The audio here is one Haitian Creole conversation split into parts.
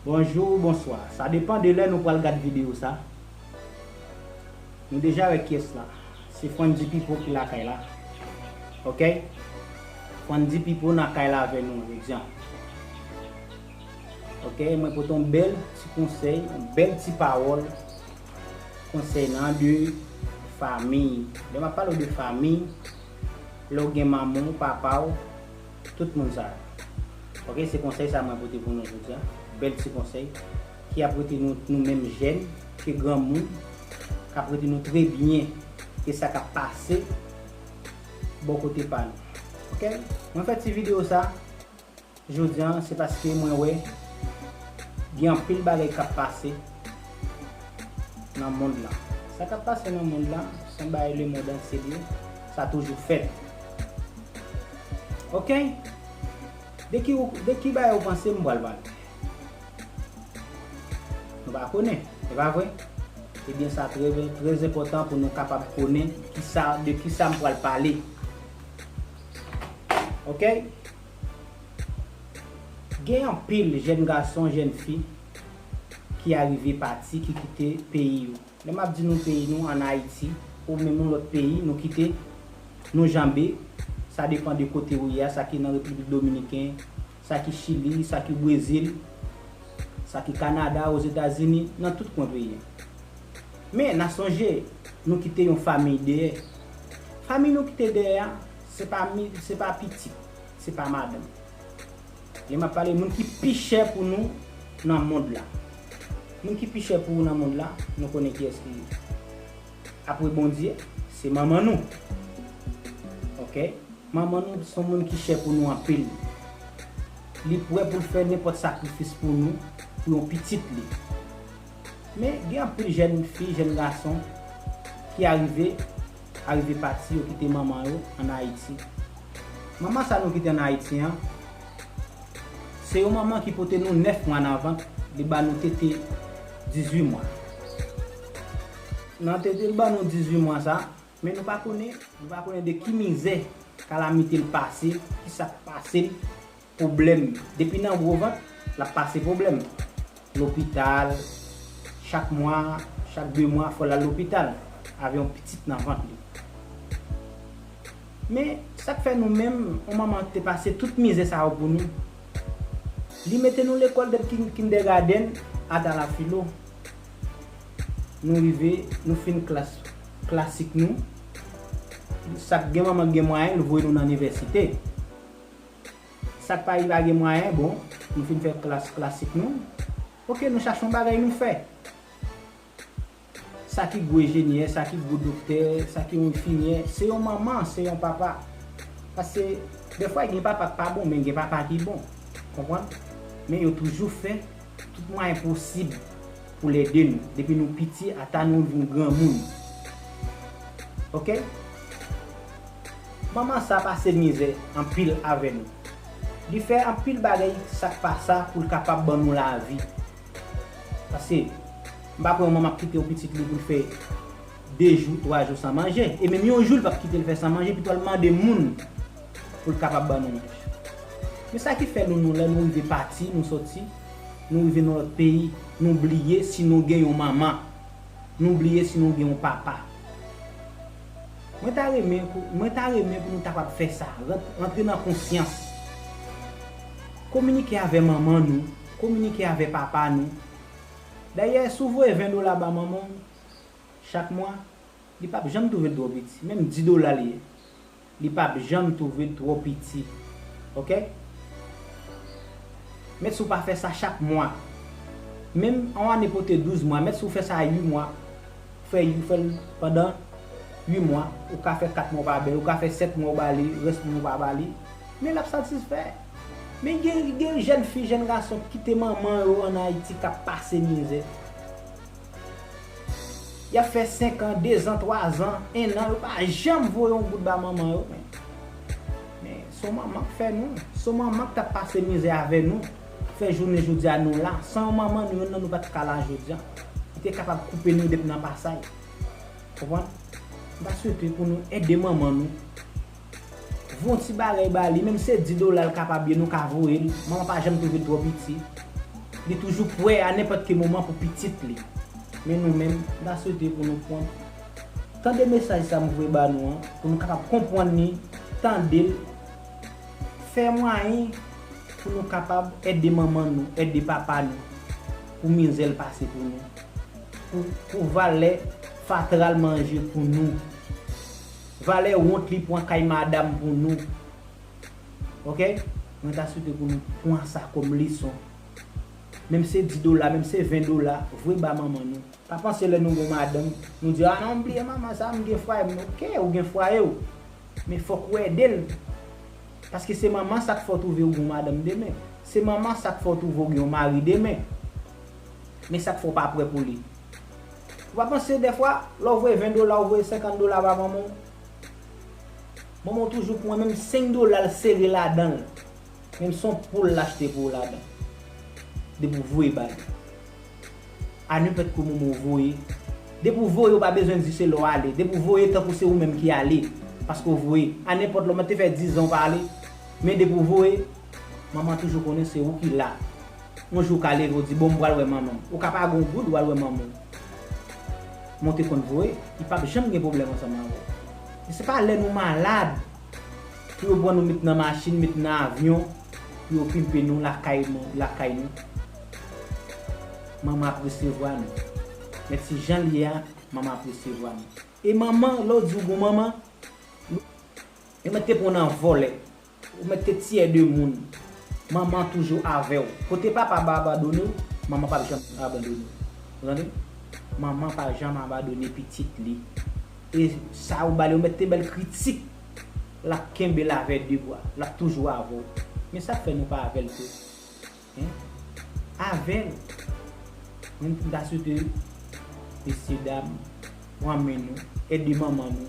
Bonjou ou bonswa, sa depan de lè nou pral gad videyo sa. Nou deja wè kyès la, se Fwandi Pipo ki lakay la. Ok, Fwandi Pipo nan kay la avè nou, egzanp. Ok mwen pote yon bèl ti konsèy yon bèl ti pawòl konsèy nan de fami lè map pale w de fami lè w gen manman w papa w tout moun sa yo ok se konsèy sa mwen pote pou nou jodi a bèl ti konsèy ki ap rete nou nou menm jèn ke granmoun kap rete nou trè byen ke sa kap pase bò kote pa nou ok mwen fè ti video sa. Jodi an se paske mwen wè gen anpil bagay kap pase nan mond lan. Sa kap pase nan mond lan se yon bagay le mond antye li ye, sa toujou fèt. Ok! De ki ou, de ki bagay ou panse m pral pale? Nou pa konnen, e pa vre? Ebyen sa trè trè enpòtan pou nou kapab konnen kisa, de kisa m pral pale. Ok Gen anpil jèn gason jèn fi ki arive pati ki kite peyi yo lè map di nou peyi nou an ayiti ou menm yon lòt peyi nou kite nou janbe sa depan de kote ou ye a sa ki nan repiblik dominiken sa ki Chili, sa ki Brezil, sa ki Kanada, Ozetazini, nan tout kwen peyi an. Men, na sonje, nou kite yon famiy deyè. Famiy nou kite deyè a, se pa mi, se pa pitit, se pa madanm. Lè m ap pale moun ki pi chè pou nou nan mond la. Moun ki pi chè pou ou nan mond la, nou konnen kiyès li ye. Apre Bondye, se manman nou. Ok. Manman nou se yon moun ki chè pou nou anpil. Li prè pou l fè nenpòt sakrifis pou nou, pou yon pitit li. Men, gen anpil jèn fi, jèn gason ki arive, arive pati, yo kite manman yo an Ayiti. Manman sa nou kite an Ayiti an, se yon manman ki pote nou 9 mwa nan vant, li ba nou tete 18 mwa. Nan tete l ban nou 18 mwa sa, men nou pa konnen, nou pa konnen de ki mizè, kalamite l pase, ki sa k pase l, pwoblèm. Depi nan gwo vant, l ap pase pwoblèm. Lopital, chak mwa, chak 2 mwa fò l al lopital avè yon pitit nan vant li. Men, sa k fè nou menm, yon manman te pase tout mizè sa yo pou nou. Li mete nou lekòl depi kindegadenn ata lafilo. Nou rive, nou fin klas klasik nou. Sa k gen manman k gen mwayen, l voye nou nan nivèsite. Sa k pa rive a gen mwayen, bon, nou fin fè klas klasik nou. Ok, nou chache yon bagay nou fè. Sa ki gwo ejenyè, sa ki gwo doktè, sa ki yon enfimyè, se yon manman, se yon papa. Pase, defwa gen papa k pa bon, men gen papa ki bon. Konprann? Men yo toujou fè Tout mwayen posib pou l ede nou depi nou piti ata nou vin granmoun. Ok. Manman sa pase mizè anpil avè nou. Li fè anpil bagay sa k pa sa pou l kapab ban nou lavi. Pase, m pa kwè yon manman ap kite yon pitit li pou l fè de jou, twa jou san manje. E menm yon jou li p ap kite l fè san manje pito l mande moun. pou l kapab ban nou manje. Men sa ki fè nou nou lè nou rive pati, nou soti, nou rive nan lòt peyi, nou bliye si nou gen yon manman, nou bliye si nou gen yon papa. Mwen ta renmen pou, mwen ta renmen pou nou ta kapab fè sa, rantre nan konsyans. Kominike avè manman nou, kominike avè papa nou. Dayè, si w voye 20 dola ba manman w chak mwa, li pap janm twouve l twò piti, menm 10 dola li ye. Li pap janm twouve twò piti ok. Met si w pa fè sa chak mwa. Menm on ane pote 12 mwa met si w fè sa 8 mwa. Ou fè ou fè l pandan 8 mwa. Ou ka fè 4 mwa ou pa ba li. Ou ka fè 7 mwa ou ba li, rès moun ou pa ba li. Men l ap satisfè. Men gen jèn fi, jèn gason k kite manman yo an Ayiti k ap pase mizè. Yap fè 5 ans 2 zan 3 zan 1 an yo pa janm voye yon goud ba manman yo men men son manman k fè nou son manman k tap pase mizè avè nou k fè jounen jodia nou la san yon manman nou yonn nan nou pat ka la jodia li te kapab koupe nou depi nan pasay konprann m ta swete pou nou ede manman nou. Von ti bagay ba li menm se 10 dola l kapab ye nou ka voye l manman pa janm te vle l twò piti li toujou prè a nenpòt ki moman pou pitit li men nou menm m ta swete pou nou pwan tande mesaj sa m voye ba nou an pou nou kapab konpwann li tande l fè mwayen pou nou kapab ède manman nou ède papa nou pou mizè l pase pou nou pou valè fatra l manje pou nou. Valè wont li pwan kay madam pou nou ok mwen ta swete pou nou pwan sa kom leson menm se 10 dola menm se 20 dola vwe ba manman nou pa panse lè nou gon madanm nou di a non m bliye manman sa m gen fwaye m ok ou gen fwaye w men fok ou ede l paske se manman sa k fè w twouve ou gon madanm demen se manman sa k fè w twouve ou gen yon mari demen men sa k fè w pa prè pou li Ou pa panse dèfwa, lè w voye 20 dola ou voye 50 dola ba manman w, manman w toujou pran menm 5 dola l sere ladan l, menm si son poul l achte pou w ladan l, depi w voye ba li. A nenpòt ki moman w voye, depi w voye ou pa bezwen di se lè w ale, depi w voye tankou se ou menm ki ale, paske w voye. A nenpòt lè, ou mèt te fè 10 zan ou pa ale, men depi w voye. Manman toujou konnen se ou ki la. Yon jou ou ka leve ou di bon m pral wè manman m. Ou ka pa gen yon goud ou al wè manman w. Men ou te konn voye. Li pap janm gen pwoblèm ansanm avè w. Men se pa lè nou malad pou yo pran nou met nan machin, met nan avyon pou yo pimpe nou lakay nou, lakay nou. Manman ap resevwa nou. Men ti jan l ye a, manman ap resevwa nou. E manman, lè w di ou gon manman, li mèt te pran w nan vòlè. Ou mèt te tiyè de moun. Manman toujou avè w. Kote papa ba abandone w, manman pap janm abandone w. Ou tande? Manman pa janm abandone pitit li. E sa ou ba li, ou mèt te ba l kritik, l ap kenbe l avè de bra. L ap toujou avè w. Men sa k fè nou pa avè l tou? Hein Avèl Mwen m ta swete Mesye dam Pran men nou Ede manman nou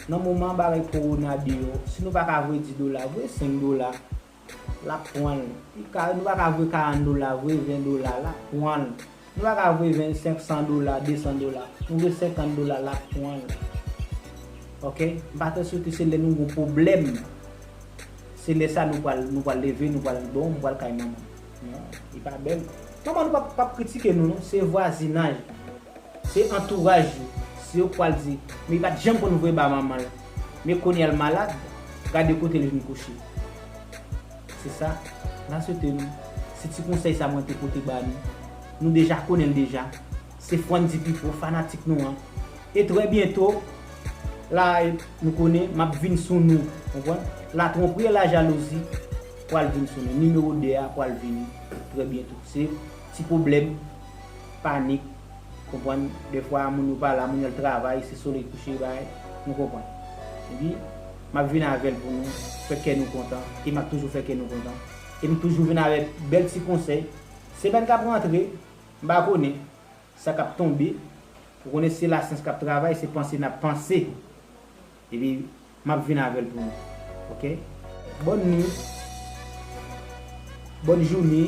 Nan moman bagay korona deyò Si nou pa ka voye 10 dola Voye 5 dola Lap pranl Nou pa ka voye 40 dola Voye 20 dola Lap pranl. Nou pa ka voye 25 san dola 200 dola nou vle 50 dola la pwan l ok m pa tande sitou se lè nou gon pwoblèm se lè sa nou pwal nou pwal leve nou pwal di bon m pwal kay manman m non li pa bèl manman nou pap pap kritike nou non se vwazinaj la se antouraj yo se yo k pwal di men li pat janm konn voye ba manman l men kounya l malad gade kote l vin kouche. Se sa Na swete nou. Se ti konsèy sa mwen te pote ba nou. Nou deja konnen l deja. Se Frantdy Pipo, fanatik nou an. E trè byento, la a e nou konnen, m ap vin sou nou. Konprann? La twonpri e la jalouzi pral vin sou nou. Nimewo 2 a pral vini trè byento. Se ti pwoblèm, panik, konprann, dèfwa moun yo pa la, moun yo al travay, se solèy kouche, bagay, nou konprann. Epi, M ap vin avè l pou nou fè kè nou kontan e m ap toujou fè kè nou kontan. E m toujou vin avèk bèl ti konsèy. Semèn k ap rantre, m pa konnen sa k ap tonbe. Ou konnen se lasyans k ap travay, se panse n ap panse. Epi m ap vin avè l pou nou. Ok? Bòn nuit. Bòn joune.